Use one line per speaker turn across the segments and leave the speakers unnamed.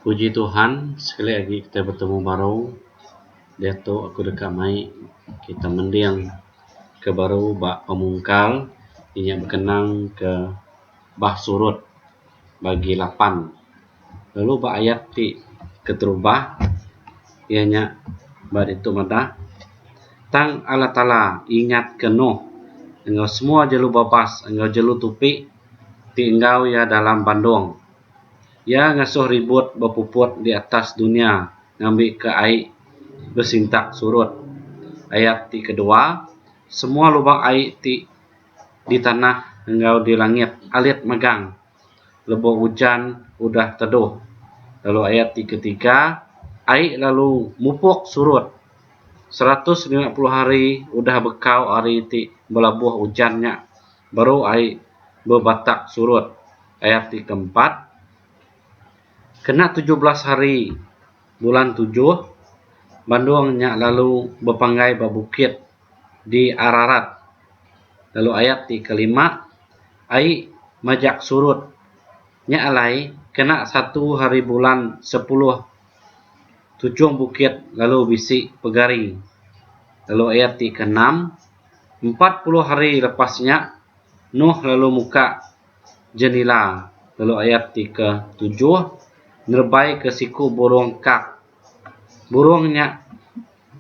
Puji Tuhan sekali agi kita betemu baru diatu aku deka mai kita mending ke baru ba pemungkal inya bekenang ke bah surut bagi lapan lalu ba ayat ti keterubah iya nya ba ditu meda tang Allah Taala ingat ke Noh enggau semua jelu babas enggau jelu tupi ti enggau iya dalam bandong. Iya ngasuh ribut bepuput di atas dunya ngambika ai besintak surut. Ayat ti kedua, Semua lubang ai ti di tanah enggau di langit alit megang lebu ujan udah teduh. Lalu ayat ti ketiga, Ai lalu mupuk surut. Seratus lima puluh hari udah bekau hari ti belabuh ujan nya, baru ai bebatak surut ayat ti keempat kena tujuh belas hari bulan tujuh bandong nya lalu bepanggai ba bukit di ararat lalu ayat ti kelima ai majak surut nya alai kena satu hari bulan sepuluh tuchum bukit lalu bisi pegari lalu ayat ti keenam Empat puluh hari lepas nya, Nuh lalu muka jenila lalu ayat ti ke tujuh nerebai ke siku burung kak. Burung nya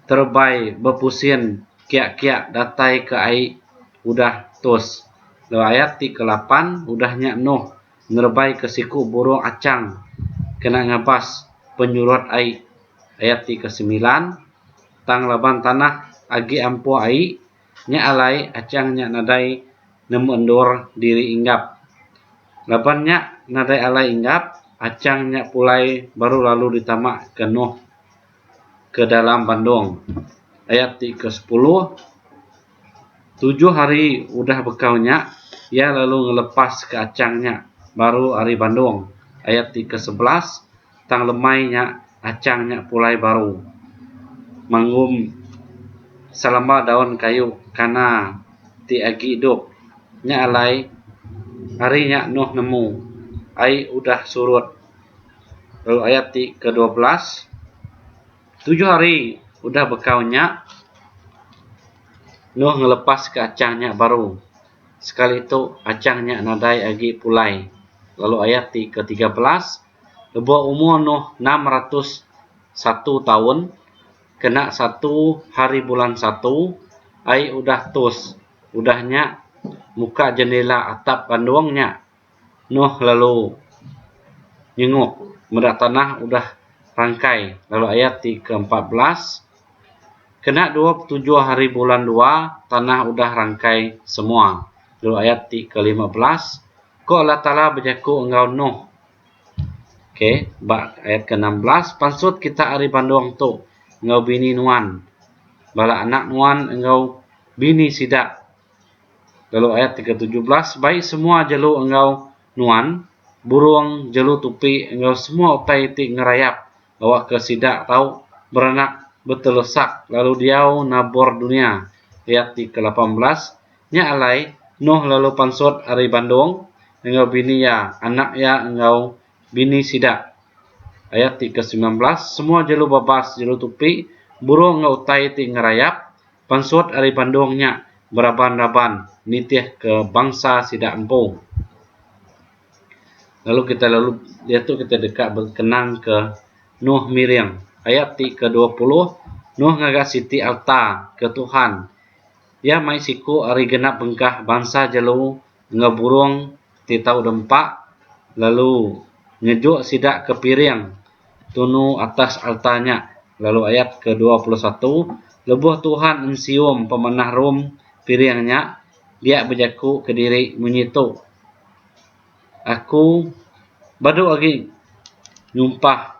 terebai bepusin kiak-kiak datai ke ai udah tus. Lalu ayat ti ke lapan, udah nya Nuh nerebai ke siku burung achang kena ngabas penyurut ai. Ayat ti ke semilan. tang laban tanah agi ampuh ai nya alai achang nya nadai nemu endur diri Enggap. Laban nya nadai alai Enggap, achang nya pulai baru lalu ditama ke Noh ke dalam bandong. Ayat ti ke sepuluh, tujuh hari udah bekau nya iya lalu ngelepas ke achang nya baru ari bandong. Ayat ti ke sebelas. tang lemai nya achang nya pulai baru mengum selama daun kayu kana ti agi idup nya alai hari nya Nuh nemu ai udah surut lalu ayat ti ke dua belas tujuh hari udah bekau nya Nuh ngelepas ka achang nya baru sekali tu achang nya nadai agi pulai lalu ayat ti ke tiga belas lebuh umur nuh enam ratus satu taun kena satu hari bulan satu ai udah tus udah nya muka jendela atap kandung nya nuh lalu nyenguk meda tanah udah rangkai lalu ayat ti ke empat belas kena dua puluh tujuh hari bulan dua tanah udah rangkai semua lalu ayat ti ke lima belas ko Allah taala bejaku enggau nuh Okey, ba ayat ke-16, pansut kita ari bandong tu enggau bini nuan, bala anak nuan enggau bini sida. Lalu ayat ke-17, bai semua jelu enggau nuan, burung, jelu tupi enggau semua utai ti ngerayap awakka sida tau beranak betelusak lalu diau nabur dunya, ayat ti ke lapan belas, nya alai Noh lalu pansut ari Bandong enggau bini iya, anak iya enggau bini sida, ayat ti ke semilan belas, semua jelu babas, jelu tupi, burung enggau utai ti ngerayap, Pansut ari Bandung nya beraban-raban nitihka bansa sida empu. Lalu kitai lalu diatu kitai deka bekenangka Noh Miring ayat ti kedua puluh, Noh ngaga siti alta ke Tuhan. Iya mai siku ari genap bengkah bansa jelu enggau burung ti tau dempa lalu ngejuk sida ke piring tunu atas alta nya lalu ayat ke dua puluh satu lebuh Tuhan ensium pemenah rum piring nya dia bejaku kediri munyi tu Aku badu agi nyumpah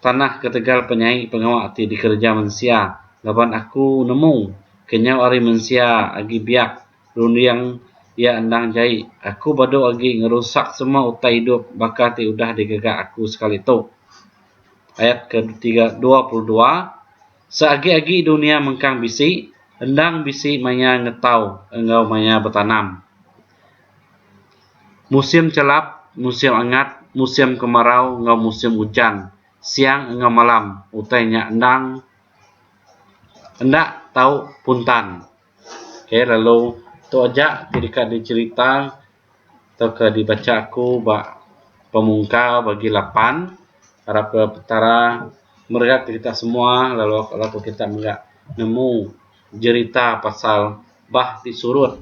tanah ketegal penyai pengawa ti dikereja mensia laban aku nemu kenyau ari mensia agi biak Runding iya endang jai. Aku badu agi ngerusak semua utai idup baka ti udah digaga aku sekali tu. Ayat ke tiga dua puluh dua Seagi-agi dunia mengkang bisi, endang bisi maya ngetau enggau maya betanam. Musim chelap, musim angat, musim kemarau enggau musim ujan, siang enggau malam, utai nya endang enda tau puntan. Ok lalu tu aja ti deka dicherita tauka dibacha aku ba pemungkar bagi lapan harap ke petara meregat kita semua lalu harap ke kita mega nemu jerita pasal bah ti surut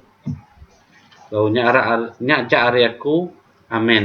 lalu nya aja ari aku amen.